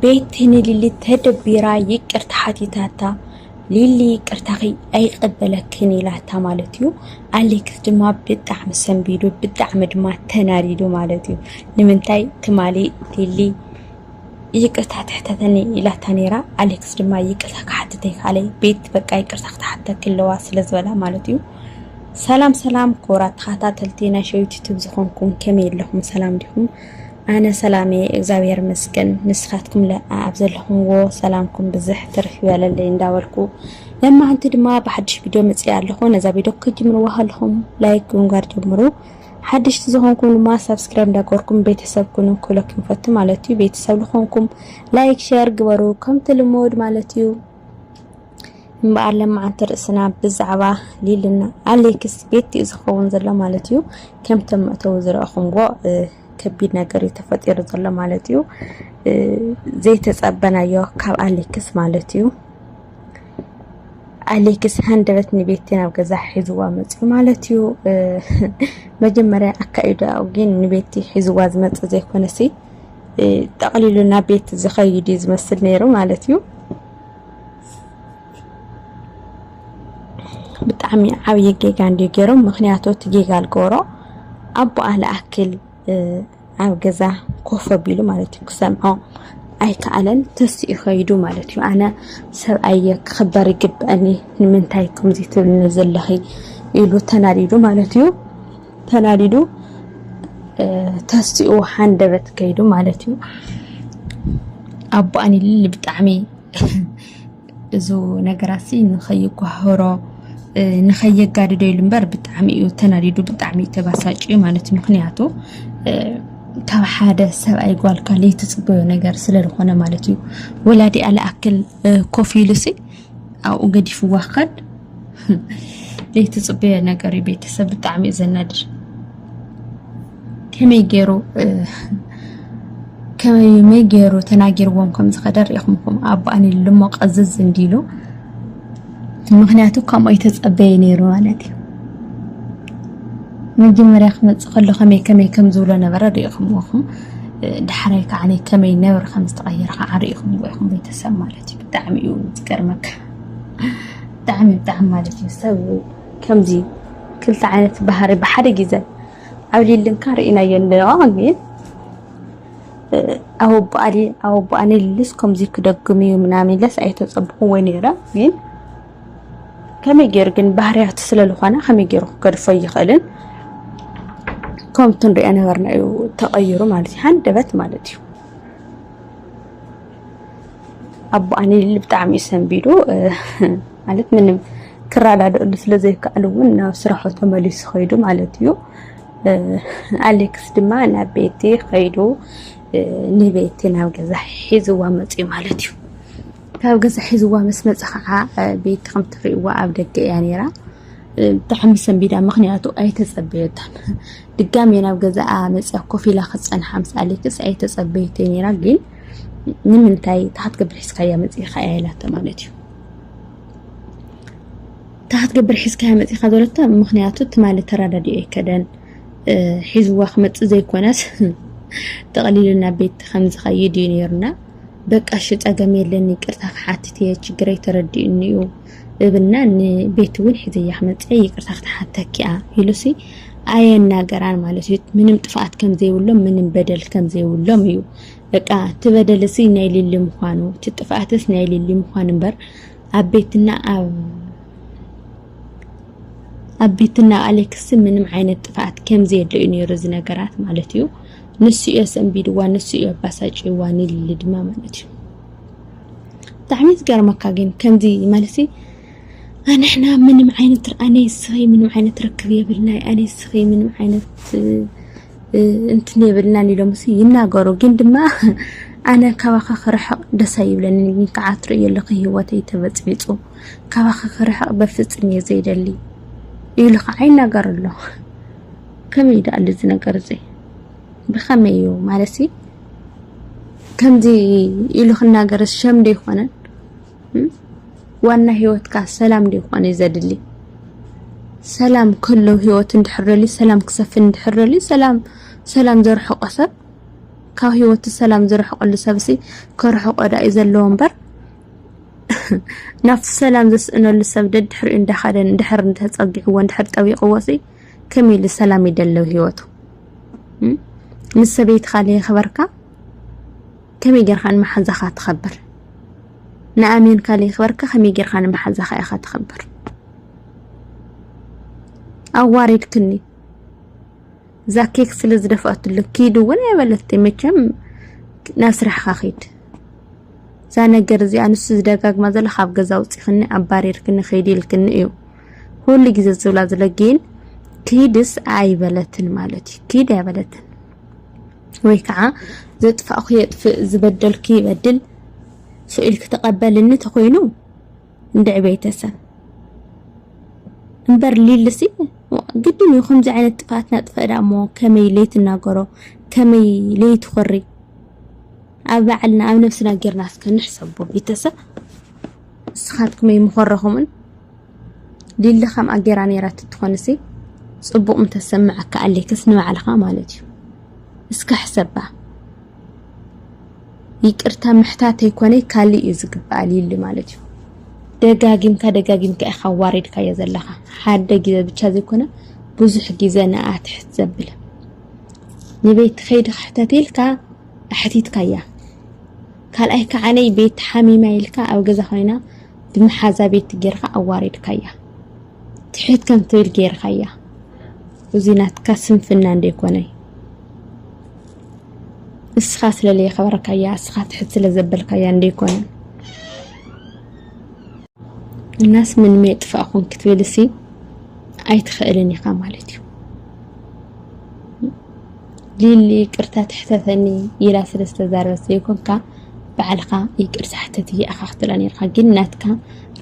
ቤቲ ንሊሊ ተደቢራ ይቅርታ ሓቲታታ ሊሊ ይቅርታኺ ኣይቀበለክን ኢላታ ማለት እዩ ኣሌክስ ድማ ብጣዕሚ ሰንቢዱ ብጣዕሚ ድማ ተናዲዱ ማለት እዩ ንምንታይ ትማሊ ሊሊ ይቅርታ ትሕተተኒ ኢላታ ነይራ ኣሌክስ ድማ ይቅርታ ክሓትተ ይካለ ቤት በቃ ይቅርታ ክትሓተኪ ኣለዋ ስለ ዝበላ ማለት እዩ ሰላም ሰላም ክቡራት ተኸታተልቲ ናይ ሸዊት ዩቱብ ዝኾንኩም ከመይ ኣለኹም ሰላም ዲኹም ኣነ ሰላም እየ እግዛብሔር ይመስገን ንስኻትኩም ለኣ ኣብ ዘለኹምዎ ሰላምኩም ብዝሕ ትርፍ ይበለለይ እንዳበልኩ ለማዓንቲ ድማ ብሓድሽ ቪድዮ መፅእ ኣለኹ ነዛ ቪድዮ ክጅምርዋ ከለኹም ላይክ ብምግባር ጀምሩ ሓድሽቲ ዝኾንኩም ድማ ሳብስክራይብ እንዳገበርኩም ቤተሰብ ኩኑ ክብለኩም ይፈቱ ማለት እዩ። ቤተሰብ ዝኾንኩም ላይክ ሸር ግበሩ ከምቲ ልሙድ ማለት እዩ። እምበኣር ለማዓንቲ ርእስና ብዛዕባ ሊልና ኣሌክስ ቤት እዩ ዝኸውን ዘሎ ማለት እዩ። ከምቲ መእተዊ ዝረእኹምዎ ከቢድ ነገር እዩ ተፈጢሩ ዘሎ ማለት እዩ። ዘይተጸበናዮ ካብ ኣሌክስ ማለት እዩ። ኣሌክስ ሃንደበት ንቤቲ ናብ ገዛ ሒዝዋ መጽዩ ማለት እዩ። መጀመርያ ኣካይዳ ግን ንቤቲ ሒዝዋ ዝመጽ ዘይኮነሲ ጠቕሊሉ ናብ ቤት ዝኸይድ ዝመስል ነይሩ ማለት እዩ። ብጣዕሚ ዓብዪ ጌጋ እንድዩ ገይሮም ምክንያቱ እቲ ጌጋ ዝገበሮ ኣቦኣ ልኣክል ኣብ ገዛ ኮፍ ኣቢሉ ማለት እዩ ክሰምዖ ኣይከኣለን ተስኡ ከይዱ ማለት እዩ ኣነ ሰብኣየ ክኽበር ይግበአኒ ንምንታይ ከምዚ ትብልኒ ዘለኺ ኢሉ ተናዲዱ ማለት እዩ ተናዲዱ ተስኡ ሃንደበት ከይዱ ማለት እዩ ኣቦኣን ይልል ብጣዕሚ እዚ ነገራት ሲ ንኸይጓህሮ ንኸየጋድዶ ኢሉ እምበር ብጣዕሚ እዩ ተናዲዱ ብጣዕሚ እዩ ተባሳጭዩ ማለት እዩ ምክንያቱ ካብ ሓደ ሰብኣይ ጓልካ ለይትፅበዮ ነገር ስለዝኾነ ማለት እዩ ወላዲኣ ልኣክል ኮፍ ኢሉሲ ኣብኡ ገዲፍዋ ክኸድ ዘይትፅበዮ ነገር እዩ ቤተሰብ ብጣዕሚ እዩ ዘናድር ከመይ ገይሩ ከመይ ገይሩ ተናጊርዎም ከም ዝኸደ ሪኢኹምኩም ኣቦኣን ኢሉ እሞ ቀዝዝ እንዲሉ ምክንያቱ ከምኡ ይተፀበየ ነይሩ ማለት እዩ መጀመርያ ክመጽእ ከሎ ከመይ ከመይ ከም ዝብሎ ነበረ ርኢኹምዎ ኢኹም። ዳሕራይ ከዓ ከመይ ነብሪ ከም ዝተቐየረ ከዓ ርኢኹምዎ ኢኹም ቤተሰብ ማለት እዩ። ብጣዕሚ እዩ ዝገርመካ ብጣዕሚ ብጣዕሚ ማለት እዩ ሰብ ከምዚ ክልተ ዓይነት ባህሪ ብሓደ ግዘ ኣብ ሊልንካ ርኢናዮ ኣለዋ ግን ኣብ ኣቦኣሊ ኣብ ኣቦኣ ንልልስ ከምዚ ክደግም እዩ ምናምን ኢለስ ኣይተጸብኹዎ ነይረ ግን ከመይ ገይሩ ግን ባህርያቱ ስለ ዝኾነ ከመይ ገይሩ ክገድፎ ይኽእልን ከምቲ ንሪኦ ነበርና እዩ ተቐይሩ ማለት እዩ ሃንደበት ማለት እዩ ኣቦ ኣኒል ብጣዕሚ እዩ ሰንቢዱ ማለት ምንም ክረዳድእሉ ስለ ዘይከኣሉ እውን ናብ ስራሑ ተመሊሱ ኸይዱ ማለት እዩ ኣሌክስ ድማ ናብ ቤቲ ኸይዱ ንቤቲ ናብ ገዛ ሒዝዋ መፅዩ ማለት እዩ ካብ ገዛ ሒዝዋ ምስ መጸ ከዓ ቤቲ ከም ትርእይዋ ኣብ ደገ እያ ነይራ ብጣዕሚ ሰንቢዳ ምክንያቱ ኣይተጸበየታን ድጋሜ ናብ ገዛኣ መጽያ ኮፍ ኢላ ክጸንሓ ምስ ኣሌክስ ኣይተጸበየተይ ነይራ ግን ንምንታይ ታሓት ገብር ሒዝካያ መፂእኻ እያ ኢላቶ ማለት እዩ ታሓት ገብር ሒዝካያ መፂእኻ ዘለቶ ምክንያቱ ትማሊ ተረዳዲኦ ይከደን ሒዝዋ ክመፅእ ዘይኮነስ ጠቕሊሉ ናብ ቤት ከም ዝኸይድ እዩ ነይሩና በቃ እሺ ጸገም የለን ይቅርታ ክሓትት እየ ችግረይ ተረዲኡኒ እዩ እብልና ንቤት እውን ሒዘያ ክመፅእ ይቅርታ ክትሓተኪ እያ ኢሉሲ ኣየናገራን ማለት እዩ ምንም ጥፍኣት ከም ዘይብሎም ምንም በደል ከም ዘይብሎም እዩ በቃ እቲ በደልሲ ናይ ሊሊ ምዃኑ እቲ ጥፍኣትስ ናይ ሊሊ ምዃኑ እምበር ኣብ ቤትና ኣብ ኣብ ቤትና ኣሌክስ ምንም ዓይነት ጥፍኣት ከም ዘየለ እዩ ነይሩ እዚ ነገራት ማለት እዩ ንሱ እዮ ሰንቢድዋ ንሱ እዮ ኣባሳጭዋ ንልሊ ድማ ማለት እዩ ብጣዕሚ ዝገርመካ ግን ከምዚ ማለት ኣንሕና ምንም ዓይነት ኣነ ስኸይ ምንም ዓይነት ርክብ የብልናይ ኣነ ስኸይ ምንም ዓይነት እንትን የብልናን ኢሎም ሲ ይናገሩ ግን ድማ ኣነ ካባኻ ክርሕቕ ደስ ኣይብለኒ ግን ከዓ ትርእዮ ኣለኺ ህይወተይ ተበፅቢፁ ካባኺ ክርሕቕ በፍፅም እየ ዘይደሊ ኢሉ ከዓ ይናገር ኣሎ ከመይ ደኣሉ እዚ ነገር እዚ ብኸመይ እዩ ማለት ከምዚ ኢሉ ክናገር ሸም ዶ ይኾነን? ዋና ህይወትካ ሰላም ዶ ይኾነ ዘድሊ? ሰላም ከሎ ህይወት እንድሕረሊ ሰላም ክሰፍን እንድሕረሊ ሰላም ሰላም ዘርሕቆ ሰብ ካብ ህይወቱ ሰላም ዝርሕቀሉ ሰብሲ ከርሕቆ ዳኢ ዘለዎ እምበር ናብቲ ሰላም ዘስእነሉ ሰብ ደድሕሪኡ እንዳኸደን ድሕር እንተፀጊዕዎ እንድሕር ጠቢቕዎ ሲ ከመይ ኢሉ ሰላም ይደለው ህይወቱ ምስ ሰበይትኻ ለየኽበርካ ከመይ ጌርካ ንመሓዛኻ ትኸብር ንኣሜንካ ለየኽበርካ ከመይ ጌርካ ንመሓዛኻ ኢኻ ትኸብር ኣዋሪድክኒ እዛ ኬክ ስለ ዝደፋትሉ ኪድ እውን ኣይበለቲ መቸም ናብ ስራሕኻ ኺድ እዛ ነገር እዚኣ ንሱ ዝደጋግማ ዘሎ ካብ ገዛ ውፅእኽኒ ኣባሪርክኒ ኸይዲ ኢልክኒ እዩ ኩሉ ግዜ ዝብላ ዘሎ ግን ክይድስ ኣይበለትን ማለት እዩ ክይድ ኣይበለትን ወይ ከዓ ዘጥፋእኩ የጥፍእ ዝበደልኩ ይበድል ስኢል ክተቐበልኒ ተኮይኑ እንድዕ ቤተሰብ እምበር ሊልሲ ግድን እዩ ከምዚ ዓይነት ጥፍኣት ናጥፈእዳ እሞ ከመይ ለይትናገሮ ከመይ ለይትኮሪ ኣብ ባዕልና ኣብ ነብስና ጌርና እስከ ንሕሰቦ ቤተሰብ እስኻትኩም ኣይምኾረኹምን ሊሊ ከምኣ ጌራ ነይራ ትትኾንሲ ጽቡቕ ምተሰምዐካ ኣሌክስ ንባዕልኻ ማለት እዩ እስከ ሕሰባ ይቅርታ ምሕታት ኣይኮነይ ካልእ እዩ ዝግባኣ ሊሊ ማለት እዩ ደጋጊምካ ደጋጊምካ ኢኻ ዋሪድካዮ ዘለኻ ሓደ ግዜ ብቻ ዘይኮነ ብዙሕ ግዜ ንኣ ትሕት ዘብል ንቤት ከይዲ ክሕተት ኢልካ ኣሕቲትካያ ካልኣይ ከዓነይ ቤት ሓሚማ ኢልካ ኣብ ገዛ ኮይና ብመሓዛ ቤት ጌርካ ኣዋሪድካያ ትሕት ከም ትብል ጌርካያ እዚ ናትካ ስንፍና እንደይኮነይ እስኻ ስለ ለየኸበርካያ እስኻ ትሕት ስለ ዘበልካያ እንደይኮነ እናስ ምን ሜጥፋእ ኹን ክትብልሲ ኣይትኽእልን ኢኻ ማለት እዩ ሊሊ ይቅርታ ትሕተተኒ ኢላ ስለ ዝተዛረበት ዘይኮንካ ባዕልካ ይቅርታ ሕተቲ ኢካ ክትብላ ነርካ ግን ናትካ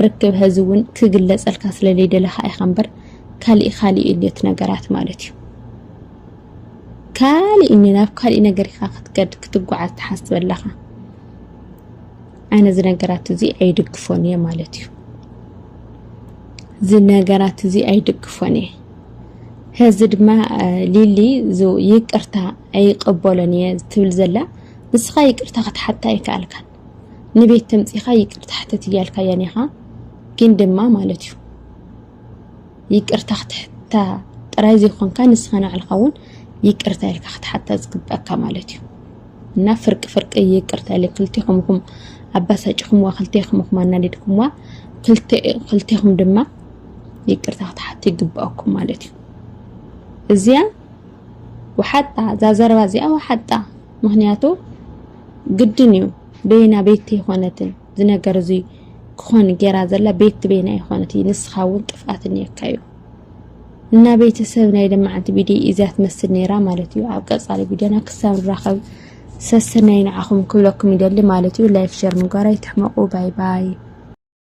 ርክብ ሀዚ እውን ክግለፀልካ ስለ ዘይደለካ ኢካ እምበር ካሊእ ካሊእ እዩ እቲ ነገራት ማለት እዩ ካሊእ ናብ ካሊእ ነገር ኢካ ክትገድ ክትጓዓዝ ትሓስብ ኣለካ ኣነ እዚ ነገራት እዚ ኣይድግፎን እየ ማለት እዩ እዚ ነገራት እዚ ኣይድግፎን እየ ሀዚ ድማ ሊሊ ይቅርታ ኣይቀበሎን እየ ትብል ዘላ ንስኻ ይቅርታ ክትሓታ ኣይከኣልካን ንቤት ተምፂኻ ይቅርታ ሕተት እያልካያን ኢኻ ግን ድማ ማለት እዩ ይቅርታ ክትሕታ ጥራይ ዘይኮንካ ንስኻ ንባዕልኻ እውን ይቅርታ ኢልካ ክትሓታ ዝግበኣካ ማለት እዩ እና ፍርቂ ፍርቂ ይቅርታ ኢለ ክልቴኹም ኢኹም ኣባሳጭኹምዋ ክልቴኹም ኢኹም ኣናዲድኩምዋ ክልቴኹም ድማ ይቅርታ ክትሓቱ ይግባኣኩም ማለት እዩ እዚያ ወሓጣ እዛ ዘረባ እዚኣ ወሓጣ ምክንያቱ ግድን እዩ በየና ቤት ይኾነትን ዝነገር እዚ ክኾን ጌራ ዘላ ቤት ትቤና ይኾነት እዩ ንስኻ እውን ጥፍኣት እኒየካ እዩ እና ቤተሰብ ናይ ደማዓንቲ ቪድዮ እዚያ ትመስል ነይራ ማለት እዩ ኣብ ቀፃሊ ቪድዮና ክሳብ ንራኸብ ሰሰናይ ንዓኹም ክብለኩም ይደሊ ማለት እዩ ላይክ ሸር ምግባር ኣይትሕመቑ ባይ ባይ